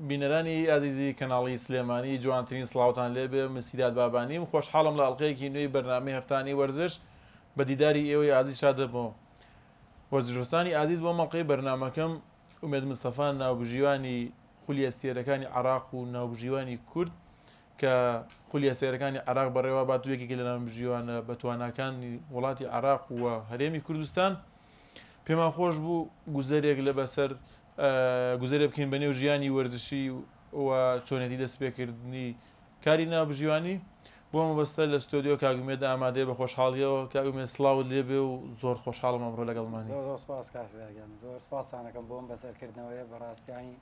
بینەرانی ئازیزی کەناڵی سلێمانی جوانترین سڵاوتان لێبێ من سیراد بابانیم خۆشحاڵم لە ئەڵقەیەکی نوێی بەرنامەی هەفتانی وەرزش بە دیداری ئێوەی ئازیز شاد دەبمەوە وەرزشوەستانی ئازیز بۆم ئەڵقەی بەرنامەکەم ئومێد مستەفا ناوبژیوانی خولیە ستێرەکانی عراق و ناوبژیوانی کورد کە خولیە سێرەکانی عراق بەڕێوا بات و یەکێکی لە ناوبژیوانە بە تواناکانی وڵاتی عراق و هەرێمی کوردستان پێمان خۆش بوو گوزەرێک لە بەسەر گوزەرێ بکەین بەنێو ژیانی وەرزشی و چۆنێتی دەستپێکردنی کاری ناوبژیوانی بۆ مەبەستە لە ستۆدیۆ کاک ئومێد ئامادەیە بە خۆشحاڵیەوە کاک ئومێد سڵاوت لێبێ و زۆر خۆشحاڵم ئەمڕۆ لەگەڵمانی. زۆر زۆر سوپاس کاک ژیار گیان زۆر سوپاستان دەکەم بۆ ئەم بەسەرکردنەوەیە بەڕاستی یانی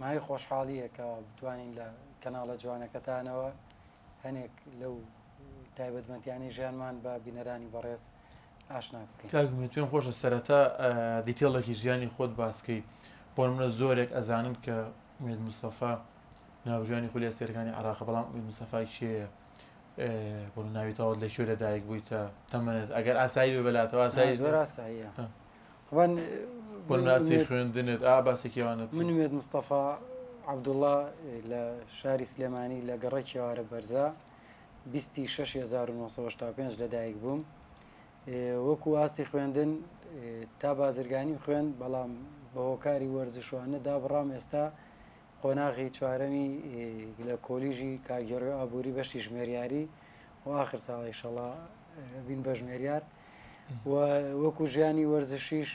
مایەی خۆشحاڵییە کە بتوانین لە کەناڵە جوانەکەتانەوە هەنێک لەو تایبەتمەندیانەی ژیانمان بە بینەرانی بەڕێز ئاشنات بکەین. کاک مێت پێم خۆشە سەرەتا دیتێڵێکی ژیانی خۆت باس کەی بۆ نمونە زۆرێک ئەزانن کە مێت مستەفا ناوژانی خولیا سێرەکانی عراق بەڵام مێت مستەفا کێیە بۆ ناوی تاوت لە کوێ لە دایک بوویتە تەمەنێت ئەگەر ئاسایی بێ بەلاتەوە ئاسایی زۆر ئاساییە وان بۆ ناسی خوێندنت ئا باسێکیوانە من مێت مستەفا عەبدوڵڵا لە شاری سلێمانی لە گەڕەکی ئێوارە بەرزە بیست ی شەش هەزار و نۆ سەد و هەشتا و پێنج لەدایک بووم وەکو ئاستی خوێندن تا بازرگانی خوێن بەڵام بە هۆکاری وەرزشوانە دابڕام ئێستا قۆناغی چوارەمی لە کۆلیژی کاگەڕێ ئابووری بەشی ژمێریاری و آخر ساڵی شەڵا بین بە ژمێریار و وەکو ژیانی وەرزشیش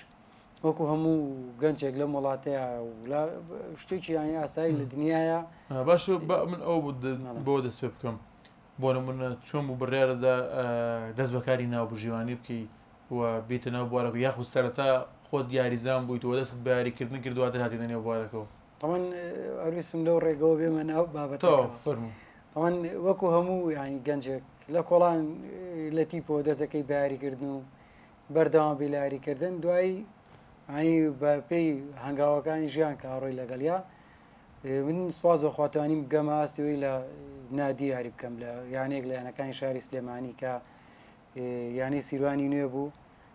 وەکو هەموو گەنجێک لەم وڵاتەیە شتێکی یانی ئاسایی لە دنیاە باش من ئەو بۆ دەست پێ بکەم بۆ نمونە چۆن بوو بڕارەدا دەست بەکاری ناو بژیوانی بکەی و بیتە ناو بوارەکە یاخود سەرەتا خۆت دیاریزان بوویت و دەست بەیاریکردن کردووە دەهاتی دەنێ بوارەکەەوە تەمەەن ئەرویسم لەو ڕێگەەوە بێمە ناو بابەتەوە فەرمو ئەوان وەکو هەموو ینی گەنجێک لە کۆڵان لە تیپۆ دەستەکەی بەیاریکردن و بەردەوام بی لە یاری کردن دوایی ینی بە پێی هەنگاوەکانی ژیان کە هاڕۆی لەگەڵیا من سپاس بەخواتانی بگەمە ئاستەوەی لە نادی یاری بکەم لە یانێک لە یانەکانی شاری سلێمانی کە یانەی سیروانی نوێ بوو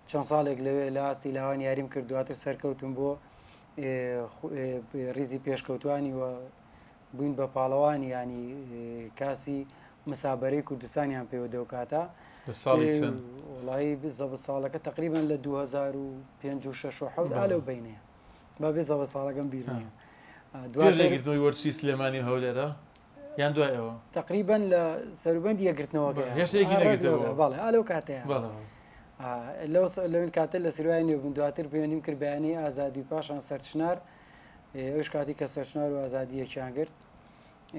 چەند ساڵێک لەوێ لە ئاستی لاوان یاریم کرد دواتر سەرکەوتم بۆ ریزی پێشکەوتانی و بووین بە پاڵەوان یانی کاسی مسابەرەی کوردستانیان پێوە دەوکاتە لە ساڵی چەند وڵی بزەبە ساڵەکە تقریبان لە 2005 لەو بینێ با بێ زەڵە ساڵەکەم بیر دوێژەگرتنەوەی وەرچی سلێمانی هەولێرە یان دوایەوە تقریبان لە سەروبند یەگرتنەوە بەڵێ ئالۆ کاتەیە لەو لەون کاتە لە سروای نوێ بوون دواتر پەیوەندیم کرد بەیانی ئازادی پاشان سەرچنار ئەویش کاتی کە سەرچنار و ئازادی یەکیان گرت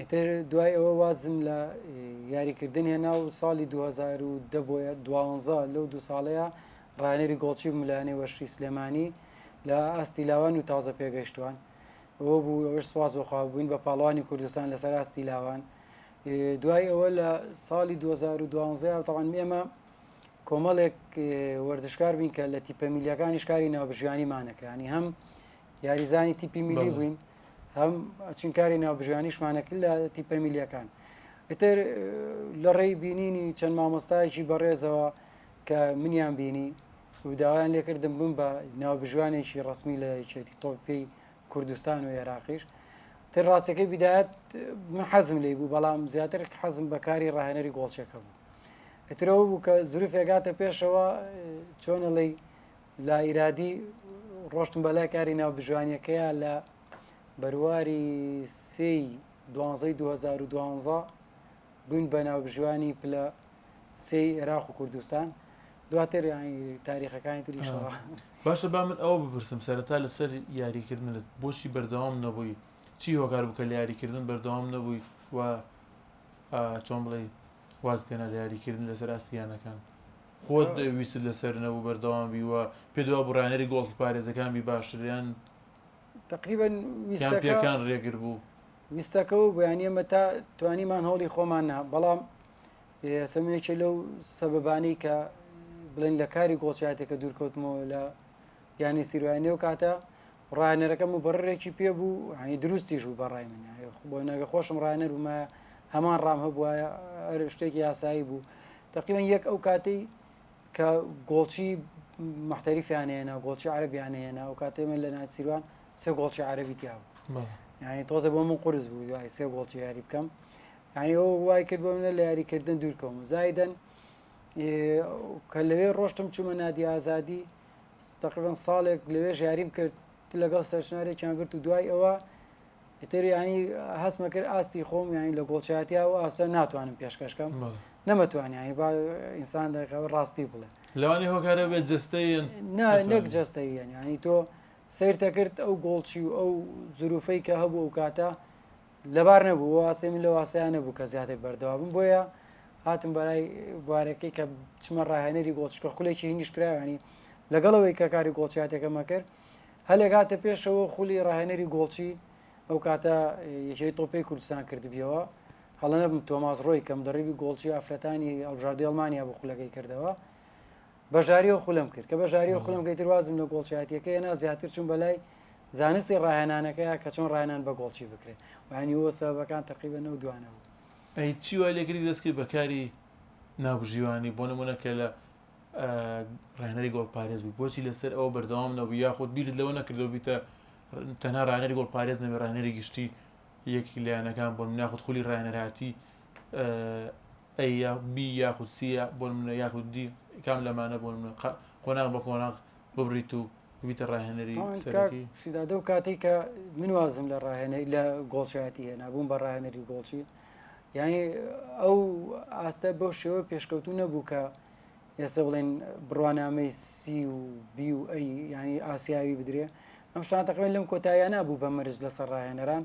ئیتر دوای ئەوە وازم لە یاریکردن هێنا و ساڵی 2010 بۆیە دوانزە لەو دو ساڵەیە ڕانێری گۆڵچی ملانێ وەشی سلێمانی لە ئاستی لاوان و تازە پێگەشتوان ئەوە بوو ئەوش سواز بەخوا بووین بە پاڵوانی کوردستان لەسەر ئاستی لاوان دوای ئەوە لە ساڵی 2012 تاوان ئێمە کۆمەڵێک وەرزشکار بین کە لە تیپەمیلیەکانیش کاری ناوبژیانی مانەکەیانی هەم یاریزانی تیپی میلی بووین هەم چنکاری ناوبژیانیشمانەکرد لە تیپە میلیەکان ئیتر لە ڕێی بینینی چەند مامۆستایەکی بەڕێزەوە کە منیان بینی وداوایان لێکردم بم بە ناوبژوانێکی ڕسمی لە یەکێتی تۆپی کوردستان و عێراقیش تر ڕاستەکەی بدایەت من حەزم لی بوو بەڵام زیاتر حەزم بەکاری ڕاهێنەری گۆڵچەکە بوو ئەترەوە بوو کە زورفێگاتە پێشەوە چۆنەڵی لە ئیرادی ڕۆشتم بە لای کاری ناوبژوانیەکەیە لە بەرواری سی دوانزەی 2012 بووین بە ناوبژوانی پلە سی عێراق و کوردستان دواتر تاریخەکانی تری باشە با من ئەوە بپرسم سەرەتا لەسەر یاریکردنت بۆچی بەردەوام نەبووی چی هۆکار بکە لە یاریکردن بەردەوام نەبووی و چۆن بڵێ واز تێنا لە یاریکردن لەسەر ئاستیانەکان خۆت ویستت لەسەر نەبوو بەردەوام بی و پێت وابوو ڕانەری گۆڵ پارێزەکان بی باشتر یان تقریبا یان پێکان ڕێگر بوو؟ ویستەکەەوە بۆیان ئێمە تا توانیمان هەوڵی خۆمان نا بەڵام سەمێکێ لەو سەبەبانەی کە بڵێن لە کاری گۆڵچاتێکە دوورکەوتمەوە لە یانەی سیروانی و کاتە ڕانەرەکە مبڕێکی پێ بوو هەنی دروستیش بوو بەڕای من بۆ نەگە خۆشم ڕانەر بوومە هەمان ڕام هەبووە ئەر شتێکی یاسایی بوو تقیمەن یەک ئەو کاتەی کە گۆڵچی محتەریفیانەیەنا گۆڵچی عربیانەیەنا و کاتێ من لە ناسیروان سێ گۆڵچی عربی تیا بوو یعنی تۆزە بۆ من قرس بوو دوای سێ گۆڵچی یاری بکەم یعنی ئەو وای کرد بۆ منە لە یاریکردن دوورکەم زایدن کە لەوێ ڕۆشتم چوومە نادی ئازادی تەقریبەن ساڵێک لەوێ ژیاریم کرد لەگەڵ سەرچنارێکیان گرت و دوای ئەوە ئیتر ینی هەستمە کرد ئاستی خۆم یانی لە گۆڵچاتیا و ئاستە ناتوانم پێشکەشکەم نەمەتوانانی با ئینسان دەکەەوە ڕاستی بڵێ لەوانی هۆکارە بێت جستەیەن نەک جستەیە ینی تۆ سیرتە کرد ئەو گۆڵچی و ئەو زروفەی کە هەبوو ئەو کاتە لەبار نەبوو ئەو ئاستەی من لەو ئاستەیان نەبوو کە زیاتر بەردەوا بم بۆیە هاتم بەرای بوارەکەی کە چمە ڕاهێنەری گۆڵچکە خولێکی هینیش کراوانی لەگەڵەوەی کە کاری گۆڵچاتێکەمە کرد هەلێک هاتە پێشەوە خولی ڕاهێنەری گۆڵچی ئەو کاتە یەکەی تۆپی کوردستان کردبیەوە هەڵە نەبم تۆماز ڕۆی کەم دەڕیبی گۆڵچی ئافرەتانی ئەڵژاردی ئەڵمانیا بۆ خولەکەی کردەوە بەشداری و خولم کرد کە بەشداری و خولم گەیتر وازم لە گۆڵچیاتیەکە هێنا زیاتر چوون بەلای زانستی ڕاهێنانەکەیە کە چۆن ڕاهێنان بە گۆڵچی بکرێت و ینی وە سەبەکان تەقیبەن و دوانە بوو ئەی چی وای لێکردی دەستکرد بە کاری ناوبژیوانی بۆ نمونە کە لە ڕێنەری گۆڵپارێز بوو بۆچی لەسەر ئەوە بەردەوام نەبوو یاخود بیرت لەوە نەکردەوە بیتە تەنها ڕانەری گۆڵپارێز نەبێ ڕانەری گشتی یەکی لایەنەکان بۆن ناخود خولی ڕانەرهاتی ئەی یا بی یاخود سی یا بۆ نمونە یاخود دی کام لەمانە بۆ نمونە قە قۆناغ بە قۆناغ ببڕیت و ببیتە ڕاهێنەری تەواوی کاک سەرەکی؟ سیدادە و کاتێک کە من وازم لە ڕاهێنەی لە گۆڵچایەتی هێنا بووم بە ڕاهێنەری گۆڵچی یانی ئەو ئاستە بەو شێوە پێشکەوتوو نەبوو کە ئێستا بڵێن بڕوانامەی سی و بی و ئەی ینی ئاسیاوی بدرێ ئەم شتان تەقریبا لەم کۆتاییانە بوو بە مەرج لەسەر ڕاهێنەران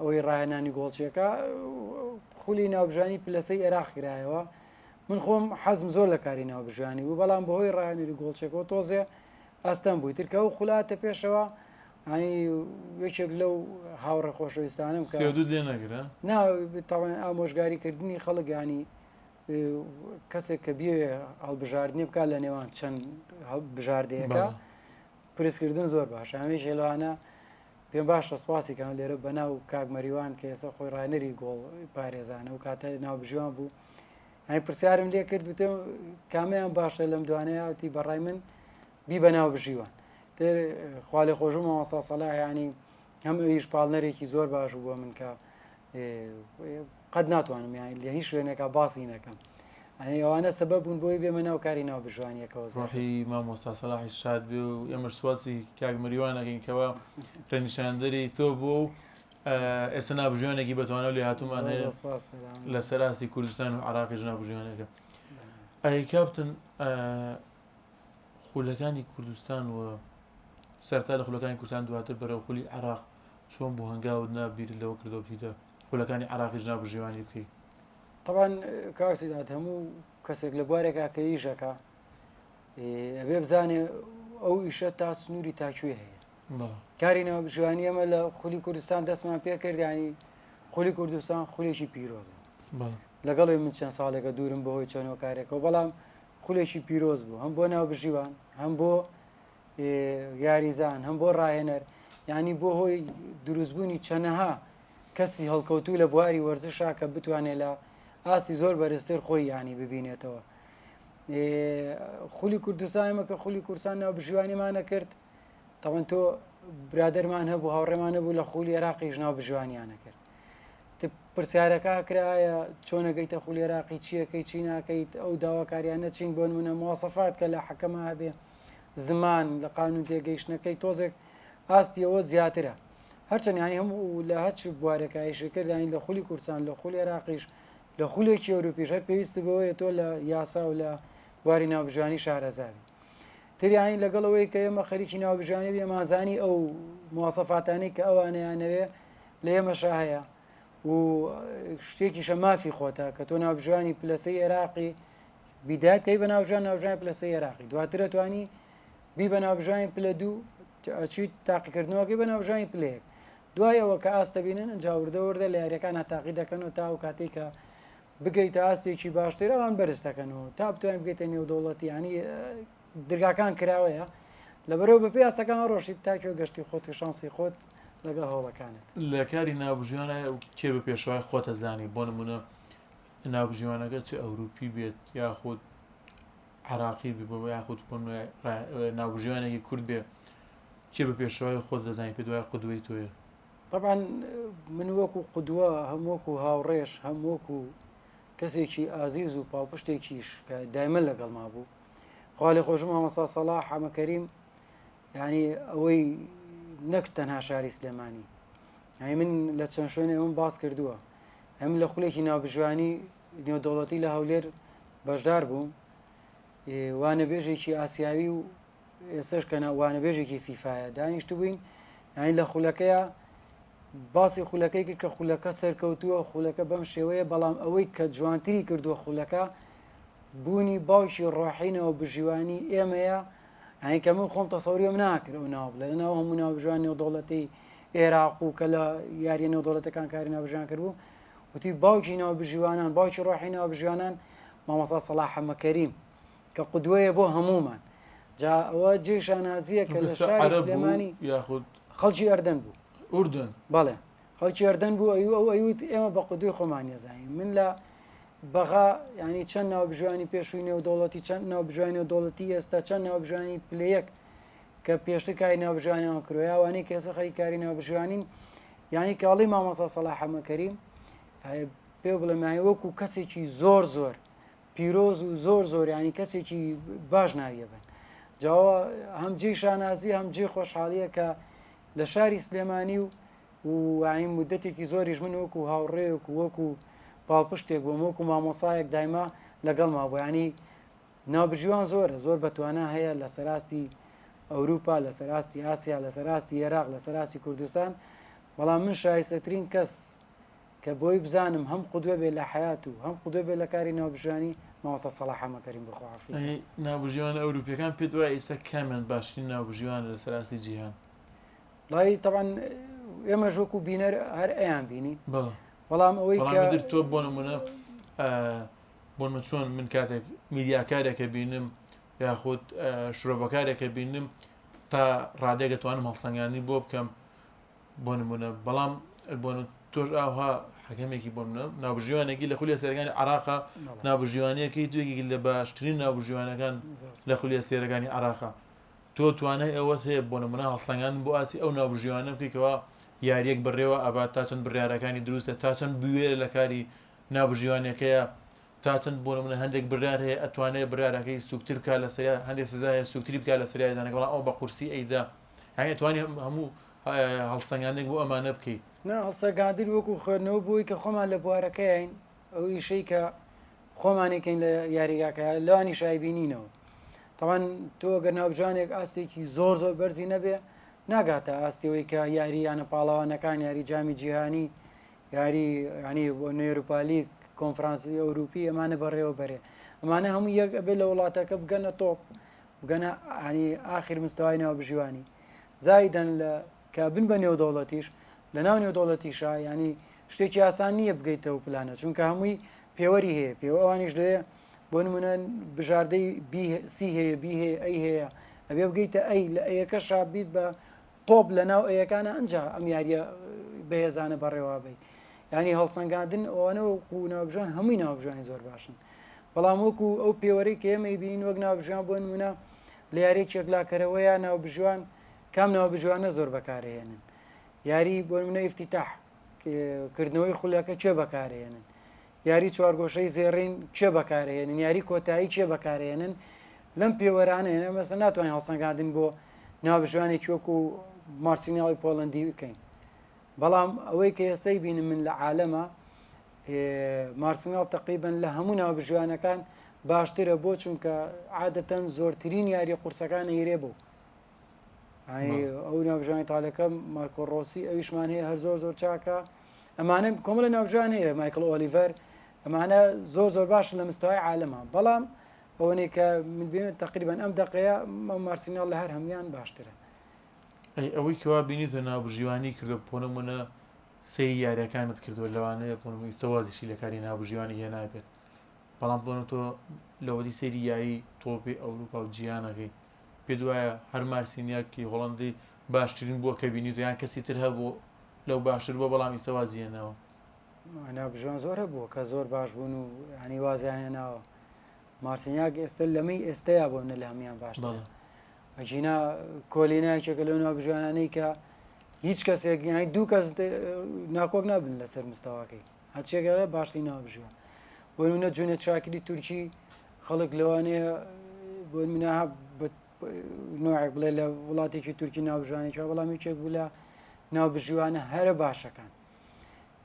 ئەوەی ڕاهێنانی گۆڵچیەکە خولی ناوبژانی پلەسەی عێراق کرایەوە من خۆم حەزم زۆر لە کاری ناوبژانی بوو بەڵام بەهۆی ڕاهێنری گۆڵچێکەوە تۆزێ ئەستەم بووی ترکە و خولاتە پێشەوە ئەنی یەکێک لەو هاوڕێ خۆشەویستانم کە سێدود لێ نەگرە نا تاوان ئامۆژگاریکردنی خەڵگانی کەسێک کە بێ هەڵبژاردنێ بکات لە نێوان چەند بژاردەیەەکە پرسکردن زۆر باش هەمێش لەوانە پێم باشە سپاسی کەم لێرە بەناو کاک مەریوان کە ئێستا خۆی ڕانەری گۆڵ پارێزانە و کاتە ناوبژیوان بوو ئەی پرسیارم لێ کرد وتێ کامیان باشە لەم دوانەیەتی بەڕای من بی بەناو بژیوان تر خالی خۆشم مامەسا سەلاحیانی هەم ئەویش پاڵنەرێکی زۆر باش بووە من کە قەت ناتوانم یانی لە هیچ شوێنێکا باسی نەکەم ئەنی ئەوانە سەبە بوون بۆی بێمە ناو کاری ناو بژوانیەکەەوە ڕۆحی مامۆستا سەلاحی شاد بێ و ئێمەش سواسی کاک مریوانەکەین کەەوە ڕێنیشاندەری تۆ بووە و ئێستا نابژوانێکی بەتوانە لێ هاتومان هەیە لە سەراسی کوردستان و عراقی ژنابژوانەکە ئەی کاپتن خولەکانی کوردستان و سەرتا لە خولەکانی کوردستان دواتر بەرەو خولی عراق چۆن بوو هەنگاوت نا بیرت لەوە کردەوە بچیتە خولەکانی عراقی جنا بژێوانی بکەی طبعا کاکسیدات هەموو کەسێک لە بوارێکا کە یژەکە ئەبێ بزانێ ئەو ئیشە تا سنووری تاکوێ هەیە کاری ناو بژوانی ئەمە لە خولی کوردستان دەستمان پێ کردیانی خولی کوردستان خولێکی پیرۆزە لەگەڵی من چەند ساڵێکە دوورم بەهۆی چەنەوە کارێکەوە بەڵام خولێکی پیرۆز بوو هەم بۆ ناو بژیوان هەم بۆ یاریزان هەم بۆ ڕاهێنەر ینی بۆ هۆی دروستبوونی چەنەها کەسی هەڵکەوتوو لە بواری وەرزشا کە بتوانێت لە ئاستی زۆر بەرزتر خۆی ینی ببینێتەوە خولی کوردستانمە کە خولی کورسان ناو بژیوانیمانە کرد تاوان تۆ برادەرمان هەبوو هاوڕێمان نەبوو لە خولی عێراقیش ناو بژیوانیانە کرد پرسیارەکە کرایە چۆنەگەیتە خولی عێراقی چیەکەی چی ناکەیت ئەو داواکاریانە چین بۆن منە موواسەفات کە لە حەکەمە هەبێ زمان لە قانون تێگەیشتنەکەی تۆزێک ئاستی ئەوە زیاترە هەرچەند ینی هەم و لە هەچ بوارەکایشکردانی لە خولی کوردستان لە خولی عراقیش لە خولێکی ئەوروپیش هەر پێویست بەوەیە تۆ لە یاسا و لە بواری ناوبژانی شارەزاوی تریانی لەگەڵ ئەوەی کە ئێمە خەریکی ناوبژانی بێمازانی ئەو موواسەفاتانی کە ئەوانەیانەوێ لە ئێمەشا هەیە و شتێکیشە مافی خۆتە کە تۆ ناوبژانی پلەسەی عێراقی بیدایەت کەی بە ناوژان ناوژانی پلە سێ عێراقی دواتر توانی بی بە ناوژانی پلە دوو ئەچیت تاقیکردنەوەکەی بە ناوژانی پلەیەک دوای ئەوە کە ئاستە بینن ئەجاوردە وردە لە یاریەکان هەتاقی دەکەن و تا و کاتێک کە بگەیتە ئاستێکی باشتر ئەوان بەرزەکەنەوە تا بتوانین بگەیتە نێودەوڵەتی ینی درگاکان کراوەیە لەبەرەوە بە پێ یاسەکان ڕۆشیت تاکیۆ گەشتی خۆت و شانسی خۆت لەگەڵ هەوڵەکانت لە کاری نابژیانە کێ بە پێشوای خۆتە زانی بۆ نمونە ناوبژیوانەکە چ ئەوروپی بێت یاخود عراقی بێ بۆ یاخود بۆ ناوبژیوانێکی کورد بێ چێ بە پێشەوەی خۆت دەزانانی پێ دوای قودوەی تۆیە طبعا من وەکو قودوە هەم وەکو هاوڕێش هەم وەکو کەسێکی ئازیز و پاڵپشتێکیش کە دایمە لەگەڵ ما بوو خالی خۆش مامەسا سەڵا حەمەکەریم ینی ئەوەی نەک تەنها شاری سلێمانی یانی من لە چەند شوێن ئەوەم باس کردووە ئەم لە خولێکی ناوبژیانی نێودەوڵەتی لە هەولێر بەشدار بووم وانەبێژێکی ئاسیاوی و ئێسش کە وانەبێژێکی فیفاە دانیشت بووین ئەین لە خولەکەیە باسی خولەکەی کرد کە خولەکە سەرکەوتووە خولەکە بەم شێوەیە بەڵام ئەوەی کە جوانتری کردووە خولەکە بوونی باوکی ڕۆحینەوە بژیوانی ئێمەیە یانی کە من خۆم تەسەوریەم ناکرد ئەو ناو بڵێ لەناو هەموو ناو بژوان نێودەوڵەتی ئێراق و کە لە یاریە نێودەوڵەتەکان کاری ناوبژیان کردبوو وتی باوکی ناو بژیوانان باوکی ڕۆحی ناو بژیوانان مامەسا سەڵا حەمەکەریم کە قودوەیە بۆ هەمومان جا ئەوە جێ شانازیە کە لە شاری سلێمانی یاخود خەڵکی ئەردەن بوو ئوردن بەڵێ خەڵکی ئەردەن بوو ئەو ئەو ئەیوت ئێمە بە قودوی خۆمان یەزانین من لە بەغا ینی چەند ناوبژوانی پێشووی نێودوڵەتی چەند ناوبژوانی و دەوڵەتی ئێستا چەند ناوبژانی پلەیەک کە پێشتر کاری ناوبژانەوە کرۆیاوانی کە ئێستا خەری کاری ناوبژوانین ینی کاڵی مامەسا سەڵاحەمەکەریم پێ بڵێمانی وەکو کەسێکی زۆر زۆر پیرۆز و زۆر زۆر ینی کەسێکی باش ناویە بن جاوە هەم جێ شانازی هەم جێ خۆشحاڵیە کە لە شاری سلێمانی و وعین مدەتێکی زۆریش من وەکو هاوڕێک و وەکو پاڵپشتێک بۆ مۆک و مامۆسایەک دایما لەگەڵ ما بۆیانی ناوبژیوان زۆرە زۆر بەتوانە هەیە لە سەراستی ئەوروپا لە سەراستی ئاسیا لە سەراستی عێراق لە سەراستی کوردستان بەڵام من شایستەترین کەس کە بۆی بزانم هەم قودوە بێ لە حەیات و هەم قودوە بێ لە کاری ناوبژیوانی، مامۆستا سەڵاح حەمەکەریم بەخۆعافی کە. ئەی ناوبژیوانە ئەوروپیەکان پێت وایە ئیستا کامیان باشترین ناوبژیوانە لە سەر ئاستی جیهان؟ وڵای تەبعەن ئێمەش وەکو بینەر هەر ئەیان بینی. بەڵێ. بەڵام ئەوەی کە. بەڵام ئیتر تۆ بۆ نمونە بۆ نمونە چۆن من کاتێک میدیاکارێک ئەبینم یاخود شرۆڤەکارێک ئەبینم تا ڕادەیەک ئەتوانم هەڵسەنگاندنی بۆ بکەم، بۆ نمونە بەڵام بۆ تۆش ئاها حەکەمێکی بۆ منە ناوبژیوانێکی لە خولی سێرەکانی عراقا ناوبژیوانەکەی دوێکی لە باشترین ناوبژیوانەکان لە خولی سێرەکانی عراقا تۆ توانای ئەوەت هەیە بۆ نمونە هەڵسەنگان بۆ ئاسی ئەو ناوبژیوانە بکەیتەوە یاریەک بڕێوە ئەبات تا چەند بڕارەکانی دروستە تا چەند بوێ لە کاری ناوبژیوانەکەیە تا چەند بۆ منە هەندێک برار هەیە ئەتوانێت برارەکەی سوکتتر بکە لە سریا هەندێک سزا هەیە سوکتری بکە لە سریایزانەکەڵ ئەو بە قورسی ئەیدا یانی ئەتوانی هەموو هەڵسەنگاندنێک بۆ ئەمانە بکەیت؟ نا، هەڵسەنگاندن وەکو خوێندنەوە بۆ ئەوەی کە خۆمان لە بوارەکەیاین، ئەو ئیشەی کە خۆمانی کەین لە یاریگاکە لەوانی شایبی نینەوە. تاوان تۆ گەر ناوجانێک ئاستێکی زۆر زۆر بەرزی نەبێ ناگاتە ئاستەوەی کە یاری یانە پاڵەوانەکان یاری جامی جیهانی یاری ینی بۆ نێروپالیک کۆنفرانسی ئەوروپی ئەمانە بەڕێوە بەرێ ئەمانە هەموو یەک ئەبێ لە وڵاتەکە بگەنە تۆپ بگەنە یانی ئاخر مستەوای ناوبژیوانی زایدەن لە کە بن بە نێودەوڵەتیش لە ناو نێودەوڵەتیشا ینی شتێکی ئاسان نییە بگەیتەوە پلانە چونکە هەمووی پێوەری هەیە پێوە ئەوانیش لێ بۆ نمونە بژاردەی سی هەیە بی هەیە ئەی هەیە ئەبێ بگەیتە ئەی لە ئەیەکە شابیت بە تۆپ لە ناو ئەیەکانە ئەنجا ئەم یاریە بەهێزانە بەڕێوابی ینی هەڵسەنگاندن ئەوانە وەکو ناوبژان هەمووی ناوبژانی زۆر باشن بەڵام وەکو ئەو پێوەری کە ئێمەی بینین وەک ناوبژان بۆن منە لە یاری چێکلاکەرەوەیە ناوبژوان کام ناوبژوانە زۆر بەکارهێنن یاری بۆ منە ئفتیتاح کردنەوەی خولەکە چێ بەکارهێنن یاری چوارگۆشەی زێڕین کێ بەکارهێنن یاری کۆتایی کێ بەکارهێنن لەم پێوەرانە هێنە مەسە ناتوانین هەڵسەنگاندن بۆ ناوبژوانێک وەکو و مارسیناڵی پۆڵندی بکەین بەڵام ئەوەی کە ئێستای بینم من لە عالەمە مارسناڵ تقریبن لە هەموو ناوبژوانەکان باشترە بۆ چونکە عادەتەن زۆرترین یاری قورسەکان ئیرێ بوو ئەو ناوژانی تالەکە مارکۆ ڕۆسی ئەویشمان هەیە هەر زۆر زۆر چاکە ئەمانە کۆمەلە ناوژان هەیە مایکل ئۆلیڤەر ئەمانە زۆر زۆر باشن لە مستای عالەمە بەڵام ئەوەنێ کە من بێن تقریبان ئەم دقەیە مارسینال لە هەر هەموان باشترە ئەی ئەوەی کەوا بینیتە ناوبژیوانی کردو پۆنمونە سری یاریەکانت کردو لەوانەیە پۆنم ئیستەوازیشی لە کاری ناوبژیوانی هێنابێت بەڵام بۆنە تۆ لەوەدی سری یاری تۆپی ئەوروپا و جیانەکەی پێت وایە هەر مارسینیاک ی هۆڵەندی باشترین بووە کە بینیوتە یان کەسی تر هەبوو لەو باشتر بووە بەڵام ئیسە وازی هێناوە؟ مانا بژۆن زۆر هەبووە کە زۆر باش بوون و یانی وازیان هێناوە مارسینیاک ئێستا لەمەی ئێستەیە بۆ نە لە هەمان باش بەڵێ ئەجینا کۆلینایکێکە لەو ناو بژوانانەی کە هیچ کەسێک یانی دوو کەس ناکۆک نابن لەسەر مستەواکەی هەرچیەک هەیە باشترین ناوە بژیوە بۆ نمونە جونێد شاکری تورکی خەڵک لەوانەیە بۆ نمونە ها بە- نوعێک بڵێ لە وڵاتێکی تورکی ناوژوانێکی هەیە، بەڵام یەکێک بوو لە ناوبژیوانە هەرە باشەکان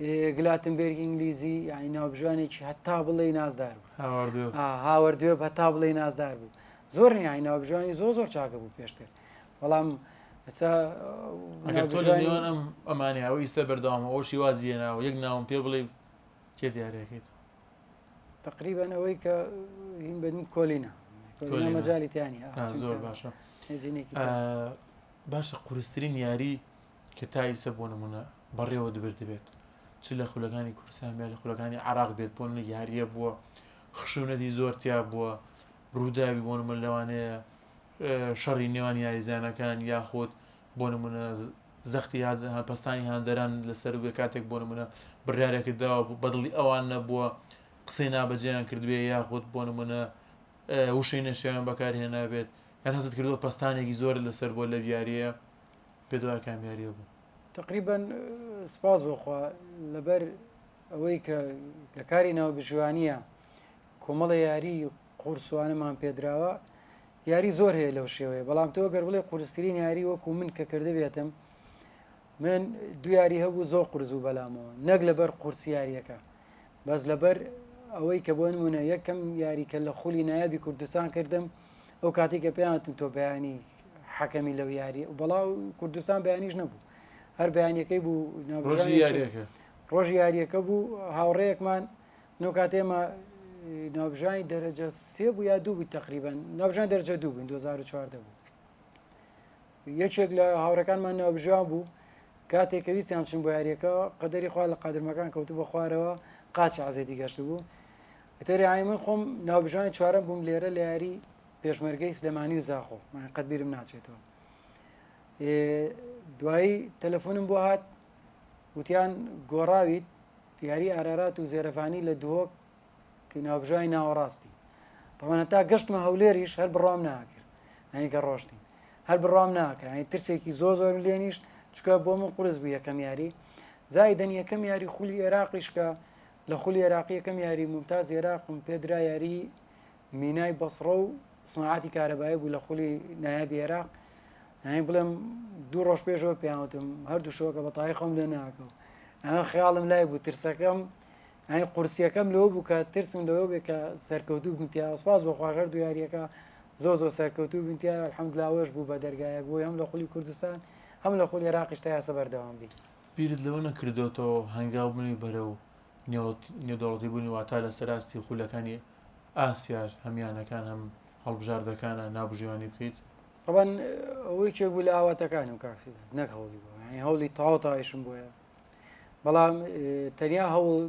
ئێ، گلاتنبێرگ ئینگلیزی یعنی ناوبژیوانێکی هەتا بڵێ نازدار بوو هاواردوێ ئا، هاوەردوێ هەتا بڵێ نازدار بوو زۆر نیانی ناوبژیوانی زۆر زۆر چاکە بوو پێشتر بەڵام ئەسا ئەگەر تۆ لە نێوان ئەم ئەمانێ ئەوە ئیستا بەردەوامە ئەو شیوازی هێناوە یەک ناوم پێ بڵێ کێ دیارەکەیت تقریبا ئەوەی کە هیم بن کۆلینە مەجای تیانی زۆر باشە باشە قورسترین یاری کە تایسە بۆ نمونە بەڕێوە دبر دەبێت چ لە خولەکانی کورسان بێت لە خولەکانی عراق بێت بۆ یاریە بووە خشونەتی زۆرتیا بووە ڕووداوی بۆ نموونە لەوانەیە شەڕی نێوان یاریزانەکان یاخود بۆ نمونە زەختی پستانی هاندەران لەسەر وێ کاتێک بۆ نمونە بڕارێکرداوە بەدڵی ئەوان نەبووە قسەی نابەجێیان کردوێ یاخود بۆ نمونە وشەی نەشیان بەکارهێنابێت یان هەست کردووە پستانێکی زۆر لەسەر بۆ لە بیاریە پێدوای کامیاریە بوو تقریبا سپاس بۆخوا لەبەر ئەوەی کە لە کاری ناو بژوانیە کۆمەڵێ یاری قورسوانەمان پێدراوە یاری زۆر هەیە لەو شێوەیە بەڵام تۆ گەر بڵێ قورسترین یاری وەکو من کە کردبێتم من دو یاری هەبوو زۆر قرز و بەلامەوە نەک لەبەر قورسیارەکە بەس لەبەر ئەوەی کە بۆن منە یەکەم یاریکە لە خولی نایابی کوردستان کردم ئەو کاتی کە پێیانتم تۆ بەیانی حەکەمی لەو یاری و بەڵا کوردستان بەیانیش نەبوو هەر بەیانەکەی بوو ڕۆژی یاریەکە ڕۆژی یاریەکە بوو هاوڕەیەکمان نۆ کات ئێمە ناوبژانی دەرەجە سێ بوو یا دوو بوو تقریبان ناوبژان دەرجە دوو بووین 2014 بوو یەکێک لە هاوڕەکانمان ناوبژان بوو کاتێک کە ویستیان چون بۆ یاریەکە قەدەری خوا لە قادرمەکان کەوتو بە خوارەوە قاچی عزێتی گەشت بوو تەریایی من خۆم ناوبژانی چوارم بووم لێرە لە یاری پێشمەرگەی سلێمانی و زاخۆ قەدبیرم ناچێتەوە دوایی تەلەفۆنم بۆ هات وتیان گۆڕاویت یاری ئارارات و زێرەڤانی لە دووەک ناوبژای ناوەڕاستی تەوان هەتا گەشتمە هەولێریش هەر بڕام ناکرد ئەنیکە ڕۆشتین هەر بڕام ناکە ئەنی ترسێکی زۆ زۆرم لێنیشت چکە بۆ من قرس بوو یەکەم یاری زایدەن یەکەم یاری خولی عێراقیشکە لە خولی عێراقی یەکەم یاری ممتاز عێراقم پێدرا یاری مینای بەسڕە و سناعاتی کارەبایە بوو لە خولی نایابی عێراق یانی بڵێم دوو ڕۆژ پێشەوە پێیانوتم هەردوو شۆکە بە تای خۆم لێ ناکەم ئەمە خیاڵم لای بوو ترسەکەم ئەین قورسیەکەم لەوە بوو کە ترسم لەوە بێ کە سەرکەوتوو بنتیا سپاس بۆ خواژەر دو یاریەکە زۆ زۆ سەرکەوتوو بنتیا حەمدلاوەش بوو بە دەرگایە بۆی هەم لە خولی کوردستان هەم لە خۆل عێراقیش تا یاسە بەردەوام بیت بیرت لەوە نەکردۆتەوە هەنگاو بنوی بەرەو نێودەوڵەتی بوونی واتا لە سەراستی خولەکانی ئاسیاش هەم یانەکان هەم هەڵبژاردەکانە ناوبژیوانی بکەیت؟ تەبەن ئەوە یەکێک بوو لە ئاواتەکانم کاک سیداد نەک هەوڵی بۆ یانی هەوڵی تەواو تەوایشم بۆیە بەڵام تەنیا هەوڵ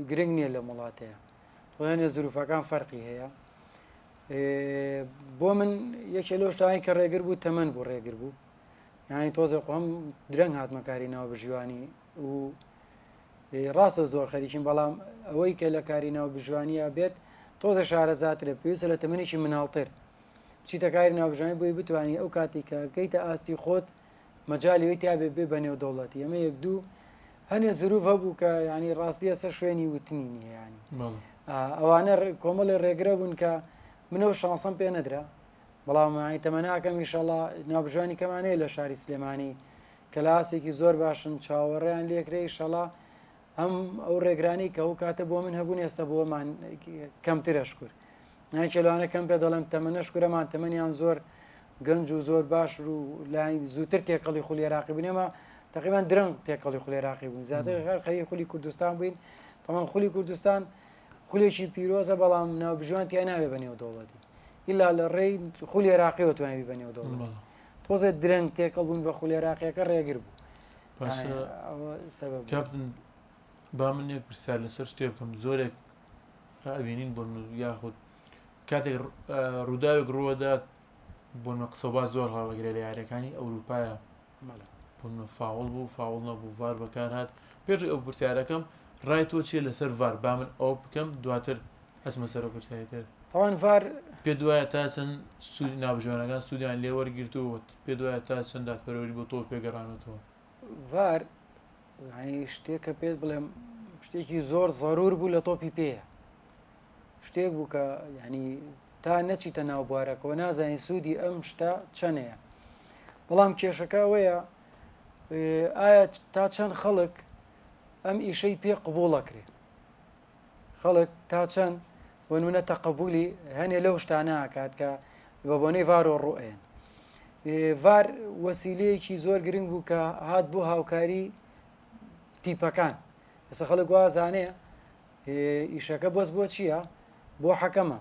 گرنگ نییە لەم وڵاتەیە تۆیانە زروفەکان فەرقی هەیە بۆ من یەکێ لەو شتانی کە ڕێگر بوو تەمەەن بوو ڕێگر بوو یانی تۆزێ قۆم درەنگ هاتمەکاری ناو بژیوانی و ڕاستە زۆر خەریکیم بەڵام ئەوەی کە لە کاری ناو بژوانیە بێت تۆزە شارەزاترە پێویستە لە تەمەێکی مناڵتر بچیتە کاری ناوبژانی بۆی بتانی ئەو کاتی کە گەیتە ئاستی خۆت مەجای لەوەی تابێ بێ بە نێودەوڵەتی ئەمە یەک دوو هەنێ زروف هەبوو کە ینی ڕاستیە سەر شوێنی وتنی نیە ینی ئەوانە کۆمەڵی ڕێگرە بوون کە منەوە شانسم پێ نەدرا بەڵام تەمەناکەم میشەڵا ناوبژانی کەمانەیە لە شاری سلێمانی کەلاسێکی زۆر باشن چاوەڕێیان لێکرێ شەڵا هەم ئەو ڕێگرانی کە ئەو کاتە بۆ من هەبوون ئێستا بۆمان کەمترە شکر نایکە لەوانە کەم پێ دەڵێم تەمەە شکرەمان تەمەنیان زۆر گەنج و زۆر باش و لای زووتر تێکەڵی خولی عراقی بنێمە تقریبان درەنگ تێکەڵی خولی عراقی بوون زیاتر غەر قەی خولی کوردستان بووین بەڵام خولی کوردستان خولێکی پیرۆزە بەڵام ناوبژوان تیا ناوێ بە نێو دەوڵەتی ئللا لە ڕێی خولی عراقیەوە توانانی بە نێو دەوڵەت تۆزێ درەنگ تێکەڵ بوون بە خولی عراقیەکە ڕێگر بوو باشە کاپتن با من یەک پرسیار لەسەر شتێ بکەم زۆرێک ئەبینین بۆن یاخود کاتێک ڕووداوێک ڕووەدات بۆنمە قسە با زۆر هەڵەگرێ لە یارەکانی ئەوروپایە بۆنمە فاوڵ بوو فاوڵ نەبوو ڤار بەکار هاات پێش ئەو پرسیارەکەم ڕای تۆ چیە لەسەر ڤار با من ئەو بکەم دواتر ئەسمە سەر و پرسیاری تر تاوان ڤار پێ دوایە تا چەند سوود نابژوانەکان سوودیان لێوەرگرتووە پێت وایە تا چەند دادپەروەری بۆ تۆ پێگەڕانەتەوە؟ ڤار یعنی شتێک کە پێت بڵێم شتێکی زۆر زەرور بوو لە تۆپی پێیە شتێک بوو کە یعنی تا نەچیتە ناو بوارەکەەوە نازانین سوودی ئەم شتە چەنەیە بەڵام کێشەکە ئەوەیە ئایا تا چەند خەڵک ئەم ئیشەی پێ قبوڵەکرێ خەڵک تا چەند بۆنمونە تەقبولی هەنێ لەو شتانە کات کە بە بۆنەی ڤارۆ ڕوئێن ڤار وەسیلەیەکی زۆر گرنگ بوو کە هات بۆ هاوکاری تیپەکان ئێستا خەڵک وازانەیە ئیشەکە بەس بۆ چییە بۆ حەکەمە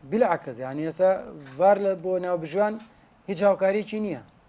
بلعکەز یان ێسا ڤار لە بۆ ناوبژوان هیچ هاوکارێکی نییە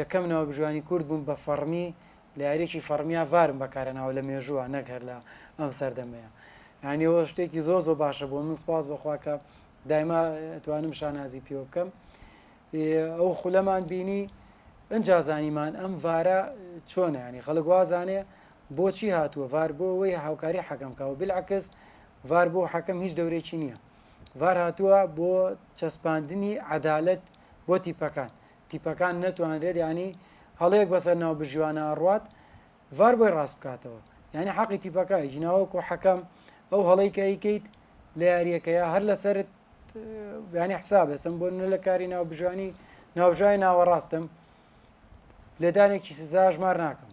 یەکەم ناوبژیوانی کورد بووم بە فەڕمی لە یاریەکی فەڕمیا ڤارم بەکارهێناوە لە مێژووە نەک هەر لە ئەم سەردەمەیە یانی ئەوە شتێکی زۆر زۆر باشە بۆ من سپاس بەخوا کە دایما توانم شانازی پێوە بکەم ئەو خولەمان بینی ئەجا زانیمان ئەم ڤارە چۆنە ینی خەڵک وازانێ بۆچی هاتووە ڤار بۆ ئەوەی هاوکاری حەکەم کاوە بلعکس ڤار بۆ حەکەم هیچ دەورێکی نییە ڤار هاتووە بۆ چەسپاندنی عەدالت بۆ تیپەکان تیپەکان نەتوانرێت یانی هەڵەیەک بەسەر ناوبژیوانە ئەڕوات ڤار بۆی ڕاست بکاتەوە یانی حەقی تیپەکە ژناوەکو حەکەم ئەو هەڵەی کە ئەیکەیت لە یاریەکەیە هەر لەسرت بیانی حسابێ سم بۆ نە لە کاری ناوبژانی ناوژای ناوەڕاستم لێدانێکی سزا ژمار ناکەم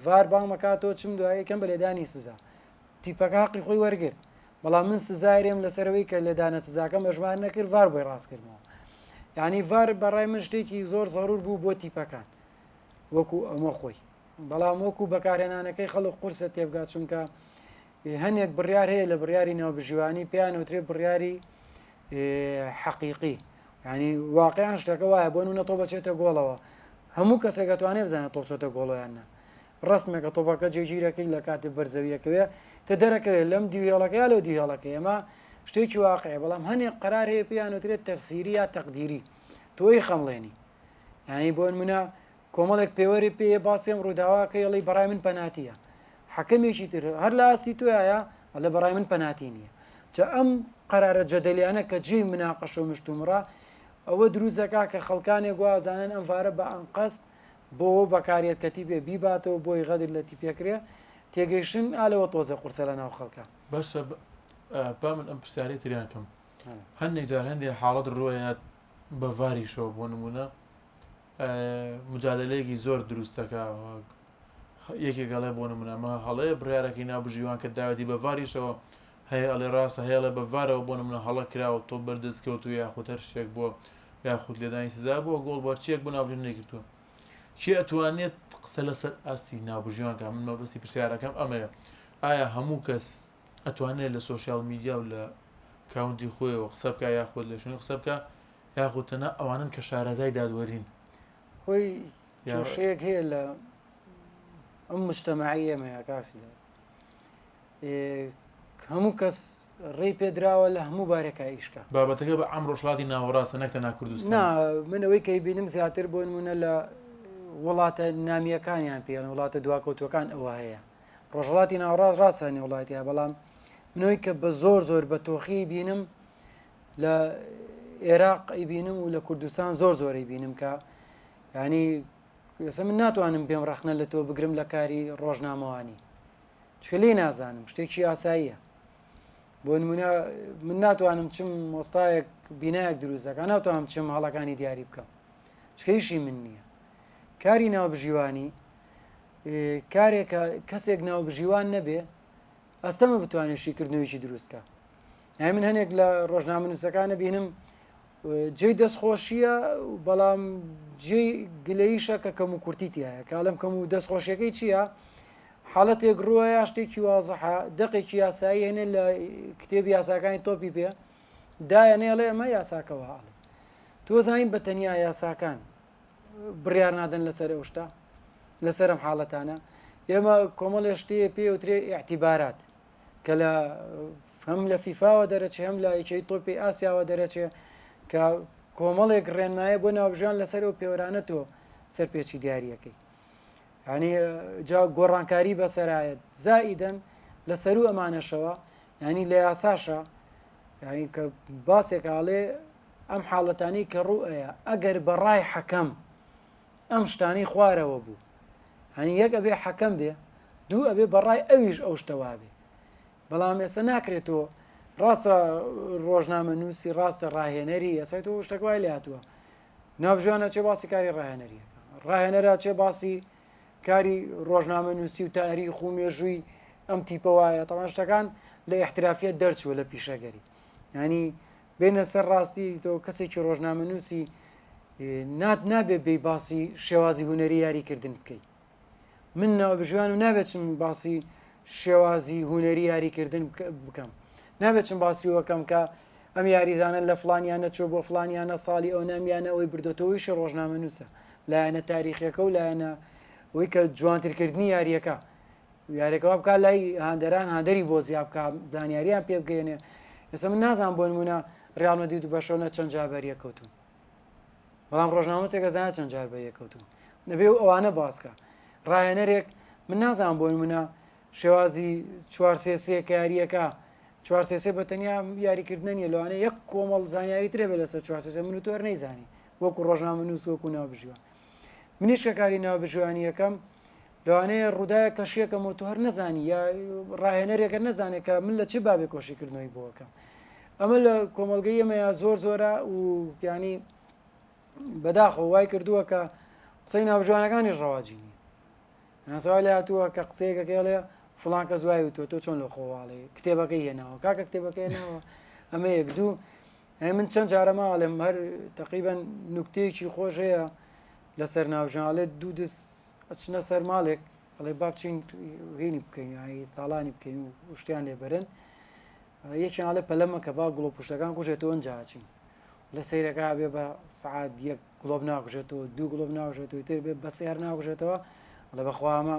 ڤار بانگمەکاتەوە چم دوایەکەم بە لێدانی سزا تیپەکە حقی خۆی وەرگرت بەڵام من سزایرێم لەسەرەوەی کە لێدانە سزاکەم ئەژمار نەکرد ڤار بۆی ڕاست کردمەوە یعنی ڤار بەڕای من شتێکی زۆر زەرور بوو بۆ تیپەکان وەکو ئەمە خۆی بەڵام وەکو بەکارهێنانەکەی خەڵک قورسە تێبگات چونکە هەنێک بڕیار هەیە لە بڕیاری ناوبژیوانی پێیان وترێ بڕیاری حەقیقی ینی واقعیان شتەکە وایە بۆ نونە تۆ بەچێتە گۆڵەوە هەموو کەسێکەتوانێ بزانێت تۆ چۆتە گۆڵۆیاننا ڕەسمە کە تۆپەکە جێگیرەکەی لە کاتی بەر زەویەکەوێ کە دەرەکەوێ لەم دیو هێڵەکە یا لەو دیو هێڵەکەی ئەمە شتێکی واقعی بەڵام هەنێک قەرار هەیە پێیان وترێت تەفسیری یا تەقدیری تۆی خەمڵێنی یانی بۆن منە کۆمەڵێک پێوەری پێ باسیێم ڕووداواکە یڵی بەڕای من پەناتیە حەکەمێکی تر هەر لە ئاستی توایە لە بەڕای من پەناتی نییە جا ئەم قەرارە جەدەلیانە کە جێی مناقەش و مشتومڕە ئەوە دروزەکە کە خەڵکانێک گوازانن ئەم وارە بە ئەنقەست بۆوە بەکاریەت کە تیپێ بیباتەوە بۆی غەدر لە تیپێ کرێ تێگەیشتن ئا لەوە تۆزێ قورسە لە ناو خەڵکا. باشە با من ئەم پرسیارەی تریان کەم هەندێک جار هەندێک حاڵەت ڕۆیەت بە ڤاریشەوە بۆ نمونە مجادلەیەکی زۆر دروستەکە یەکێک گەڵێ بۆ نمونەمە هەڵەیە بڕارەکەی ناو بژیوان کە داوەتی بە ڤاریشەوە هەیە ئەڵێ ڕاستە هەیە ئەڵێ بە ڤارەوە بۆ نمونە هەڵە کرا و تۆپ بەر دەست کەوتووە یاخود هەر شتێک بووە یاخود لێدانی سزا بووە گۆڵ بەر چیەک بوو ناوبژی نەیکردووە کێ ئەتوانێت قسە لەسەر ئاستی ناوبژیوان کە من مەبەستی پرسیارەکەم ئەمەیە ئایا هەموو کەس ئەتوانێت لە سۆشیال میدیا و لە کاونتی خۆیەوە قسە بکە یاخود لە شوێن قسە بکە یاخود تەنها ئەوانن کە شارەزای دادوەرین هۆی کێشەیەک هەیە لە ئەم مشتەمەعی ئێمەیە کاکسدا هەموو کەس ڕێی پێدراوە لە هەموو بارەکە ئیشکە بابەتەکە بە ئەم ڕۆژڵاتی ناوەڕاستە نەکتە ناکردوستان منەوەی کەی بینم زیاتر بۆ نمونە لە وڵاتە نامیەکانیان پێیان وڵاتە دواکەوتوەکان ئەوە هەیە ڕۆژڵاتی ناوڕاز ڕاستانی وڵاتە بەڵام منەوەی کە بە زۆر زۆر بە تۆخی بینم لە عێراق ئەیبینم و لە کوردستان زۆر زۆری بینم کە ینی ئێستا من ناتوانم بێم ڕخنە لە تۆ بگرم لە کاری ڕۆژنامەوانی چکە لی نازانم شتێکی ئاساییە بۆ نمونە من ناتوانم چم مۆستایەک بینایەک دروستەکە ناتوانم چم هەڵەکانی دیاری بکەم چکەیشی من نییە کاری ناوبژیوانی کارێک کەسێک ناوبژیوان نەبێ ئەستەمە بتوانێت شیکردنەوەیکی دروستکە هەی من هەنێک لە ڕۆژنامەنووسەکانە بینم جێی دەستخۆشیە بەڵام جێ گلەیشە کە کەم و کورتی تایە کاڵم کەم و دەستخۆشیەکەی چییە؟ حالەتێک رووە یا شتێکی وازحە دەقێکی یاسایی هێنێ لە کتێبی یاساکانی تۆپی پێ دایەنێ ئەڵێ ئەمە یاساکە وە ئەڵێ تۆزانین بە تەنیا یاساکان بڕیار نادەن لەسەر ئەو شتە لەسەرم حاڵەتانە ئێمە کۆمەڵێ شتەیە پێ وترێ ئاعتیبارات کە لە هەم لە فیفاوە دەرەچێ هەم لە یەکەی تۆپی ئاسیاوە دەرەچێ کە کۆمەڵێک ڕێنمایە بۆ ناوبژان لەسەر ئەو پێوەرانە تۆ سەرپێچی دیارریەکەی یعنی جا گۆڕانکاری بەسەرایەت زائیدەن لە سەرو ئەمانەشەوە ینی لە یاساشە کە باسێکاڵێ ئەم حاڵەتانی کە ڕوئەیە ئەگەر بەڕای حەکەم ئەم شتانی خوارەوە بوو هەنی یەک ئەبێ حەکەم بێ دوو ئەبێ بەڕای ئەویش ئەو شتەوا بێ بەڵام ئێستا ناکرێتەوە ڕاستە ڕۆژنامە نووسی ڕاستە ڕاهێنەری ئەسای تۆ شتەکوای لاتوە ناوبژیوان ئەچێ باسی کاری ڕاهێنەریەکە ڕاهێنەرا چێ باسی کاری ڕۆژنامە نووسی و تاری خو مێژووی ئەم تیپە وایە تەمان شتەکان لە احترافیت دەرچووە لە پیشەگەری ینی بینە سەر ڕاستی تۆ کەسێکی ڕۆژنامە نووسی نات نابێ بی باسی شێوازی هوەری یاریکردن بکەیت من ناوبژیوانم نابێت چم باسی شێوازی هوەری یاریکردن بکەم نابێت چم باسی وەکەم کە ئەم یاریزانە لە فلانیانە چۆ بۆ فلانیانە ساڵی ئەو نامیانە ئەوی بردۆتەوەیش ڕۆژنامە نووسە لایەنە تاریخیەکە و لایەنە ئەوی کە جوانترکردنی یاریەکە یارێکەوە بکە لای هاندەران هاندەری بۆ زیاب بکە دانیاریان پێ بگەێنێ ئێستا من نازان بۆ نمونە ڕالمەدی دو بەشەونە چەند جابەریە کەوتون بەڵام ڕۆژنامەچێک ئەزانە چەند جار بە یەکەوتوو نەبێ و ئەوانە باسکە ڕاهێنەرێک من نازان بۆی منە شێوازی چوار سێسیە کە یاریەکە چوار سێسێ بە تەنیا یاریکردن نیە لەوانە یەک کۆمەڵ زانیاری ترێ بە لەسەر چوار سێسێ من و تۆر نەیزانی وەکو ڕۆژنامە نووس وەکو ناو بژیوە منیش کە کاری ناو بژوانی یەکەم لەوانەیە ڕووداە کەشیەکەم و تو هەر نەزانی یا ڕاهێنەرێکە نەزانێت کە من لە چ بابێ کۆشیکردنەوەی بۆکەم ئەمە لە کۆمەلگەی ئەمەیە زۆر زۆرە و ینی بەداخۆ وای کردووە کە قسەی ناوژوانەکانی ڕەواجی نیە ناسەوای لە هاتووە کە قسەیەکەکەڵێ فلان کە زوای وتوە تۆ چۆن لە خۆواڵێ کتێبەکەی هێناوە کاکە کتێبەکەی ناوە ئەمە یەک دوو ئەی من چەند جارەما ئەڵێم هەر تەقیبەن نوکتەیەکی خۆش هەیە لەسەر ناوژان ئەڵێ دوو دەس ئەچنە سەر ماڵێک ئەڵێ با بچین هینی بکەین یانی تاڵانی بکەین و شتیان لێبەرن یەکیان ئەڵێ پەلەمە کە با گوڵۆ پشتەکان کوژێتەوە ئەنجاچین لە سیرەکە بێ بە سعات یەک گڵۆب ناکوژێتەوە دوو گڵۆب ناژێتەوە تر بێ بە سێر ناکوژێتەوە لە بەخوامە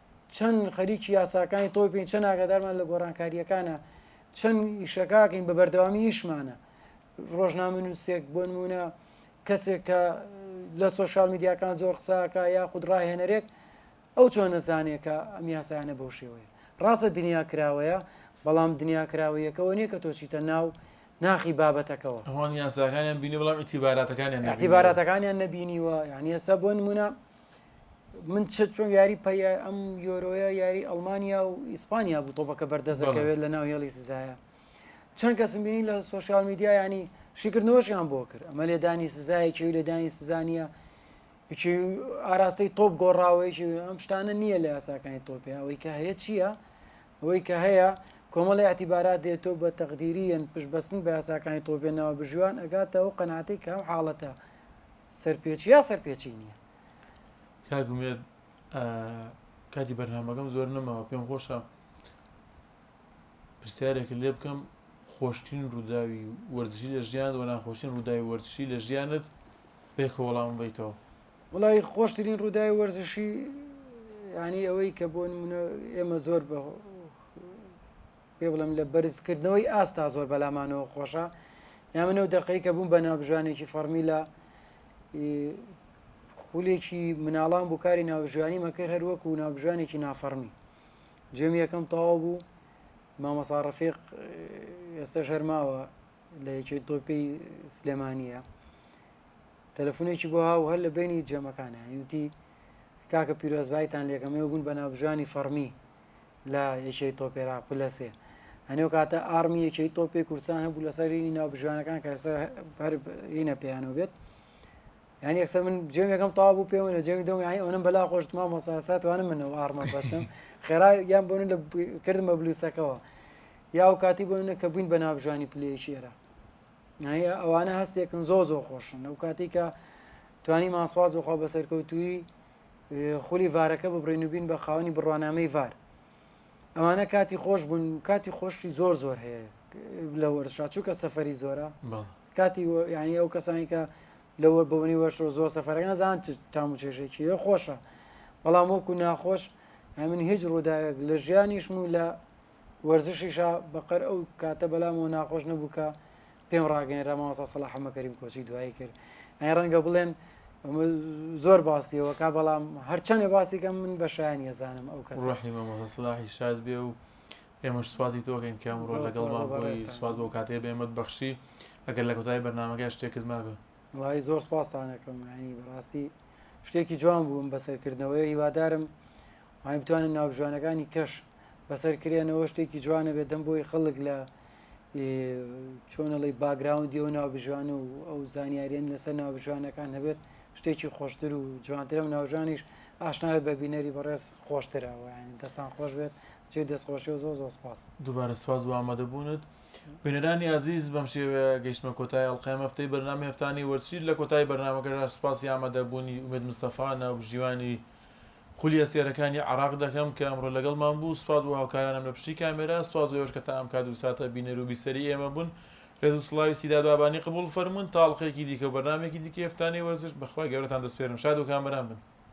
چەن خەریکی یاساکانی تۆپین چەن ئاگادارمان لە گۆڕانکارییەکانە چەند ئیشەکەکەین بە بەردەوامی ئیشمانە ڕۆژنامە نووسێک بۆ نمونە کەسێک کە لە سوۆشال میدیاکان زۆر قساکە یا خود ڕاهێنەرێک ئەو چۆن نەزانێکە ئەم یاسایانە بەو شێوەیە ڕاستە دنیا کراوەیە بەڵام دنیا کراوەیەکەوە نییە کە تۆچیتە ناو ناخی بابەتەکەەوە هەوان یاساکانیان بینی بەڵام ئیتیباراتەکانیان ئەتیباراتەکانیان نەبینیوە یعنی ئێستا بۆ نمونە من چۆن یاری پە ئەم یۆرۆیە یاری ئەلمانیا و ئیسپانیا بوو تۆپەکە بەردەزەکەوێت لە ناو هێڵی سزایە چەند کەسم بینی لە سوۆسیال میدیا ینی شیکردنەوەشیان بۆ کرد ئەمە لێدانی سزایەکی و لێدانی سزانە ئاراستەی تۆپ گۆڕاوەیەکی ئەم شتانە نییە لە یاساکانی تۆپی ئەوەی کە هەیە چییە؟ ئەوەی کە هەیە کۆمەڵی ئەتیبارات دێتۆ بە تەقدیریەن پشتبەستن بە یاساکانی تۆپێنەوە بژیوان ئەگاتەوە قەناتێک کەم حاڵەتە سەرپێچی یا سەرپێچی نییە کاک هومێد کاتی بەرنامەکەم زۆر نەماوە پێم خۆشە پرسیارێک لێ بکەم خۆشترین ڕووداوی وەرزشی لە ژیان و ناخۆشین ڕووداوی وەرزشی لە ژیانت پێکە وەڵام بیتەوە وڵی خۆشترین ڕووداوی وەرزشی ینی ئەوەی کە بۆ منە ئێمە زۆر بە پێ بڵێم لە بەرزکردنەوەی ئاستا زۆر بەلامانەوە خۆشە یا منەو دەقەی کە بووم بە ناوبژانێکی فەرمی لە خولێکی مناڵان بوو کاری ناوژانی مەکرد هەر وەکو و ناوبژانێکی نافەرمی جێم یەکەم تەواو بوو مامەساڕفیق ئێستا ژەرماوە لە یەکی تۆپی سلێمانە تەلەفۆنێکی بۆ هاو هەر لە بینی جەمەکانە یوتی کاکە پیرۆزبایتان لەکەمەوە بوون بە ناوبژانی فەرمی لە یەکێی تۆپی عێراق پلە سێ هەنێو کاتە ئارمی یەکێی تۆپی کوردستان هەبوو لەسەر رینی ناو بژوانەکان کە ئێستا هەر رینە پێیانەوە بێت یعنی ئەکسەر من جێم یەکەم تاوا بوو پێ منە جێمی دەم یانی ئەوەم بەلا خۆشت ما مەساسات وانە منەوە ئارمە بەستم خێرا یان بۆن لە کردمە بلوسەکەەوە یا و کاتی بۆنە کە بووین بە ناوژانی پلەیەکی ئێرە ئەوانە هەستێکن زۆ زۆ خۆشن ئەو کاتی کە توانی ماسواز وخوا بە سەرکەوتوی خولی ڤارەکە ببڕین و بین بە خاوەنی بڕوانامەی ڤار ئەمانە کاتی خۆش بوون کاتی خۆشی زۆر زۆر هەیە لە وەرشا چووکە سەفری زۆرە کاتی یعنی ئەو کەسانی کە لەوە بەونی وەشەوە زۆر سەفرەکان زان تام و چێژێکی خۆشە بەڵام وەکو ناخۆش من هیچ ڕووداوێک لە ژیانیشم و لە وەرزشیشە بەقەر ئەو کاتە بەلامەوە ناخۆش نەبوو کە پێم ڕاگەێنرا ماوەسا سەلا حەمەکەریم کۆچی دوایی کرد ئەی ڕەنگە بڵێن زۆر باسیەوە کا بەڵام هەرچەندێ باسیکەم من بە شایانی ئەزانم ئەو کەس ڕحی مەمەسەلاحی شاد بێ و ئێمەش سوازی تۆگەین کە ئەمڕۆ لەگەڵ سواز بۆ کاتێ بێمەت بەخشی ئەگەر لە کۆتایی بەرنمەکە شتێکت مابێ وای زۆر سپاستانەکەم ینی بەڕاستی شتێکی جوان بووم بەسەرکردنەوەی هیوادارم ئەی بتوانن ناوبژانەکانی کەش بەسەر کرێنەوە شتێکی جوانە بێت دەم بۆی خەڵک لە چۆنەڵی باگراوندی ئەو ناوبژوان و ئەو زانیاریان لەسەر ناوبژوانەکان هەبێت شتێکی خۆشتر و جوانترە و ناوژانیش ئاشناوی بە بینەری بەڕێز خۆشترەوە دەستان خۆش بێت چێ دەستخۆشی و زۆر زۆر سپاس دوبارە سپاس بۆ ئامادەبوونت بینەرانی ئازیز بەم شێوەیە گەیشتمە کۆتای ئەڵلقەیە مەفتەی بەرنامی هەفتانی وەرچیر لە کۆتای بەرنمەکەدا سپاسی ئامادەبوونی ئومێد مستەفا ناوبژیوانی خولی ئەستێرەکانی عێراق دەکەم کە ئەمڕۆ لەگەڵمان بوو، سوپاس بۆ هاوکارانم لە پشتی کامێرا، سوپاس بۆ ئێوەش کە تا ئەم کات و ساتە بینەر و بیسەری ئێمە بوون، رێز و سڵاوی سیداد بابانی قبوڵ فەرموون، تا ئەڵقەیەکی دیکە و بەرنامەیەکی دیکەی هەفتانەی وەرزش، بە خوای گەورەتان دەسپێرم شاد و کامەران بن.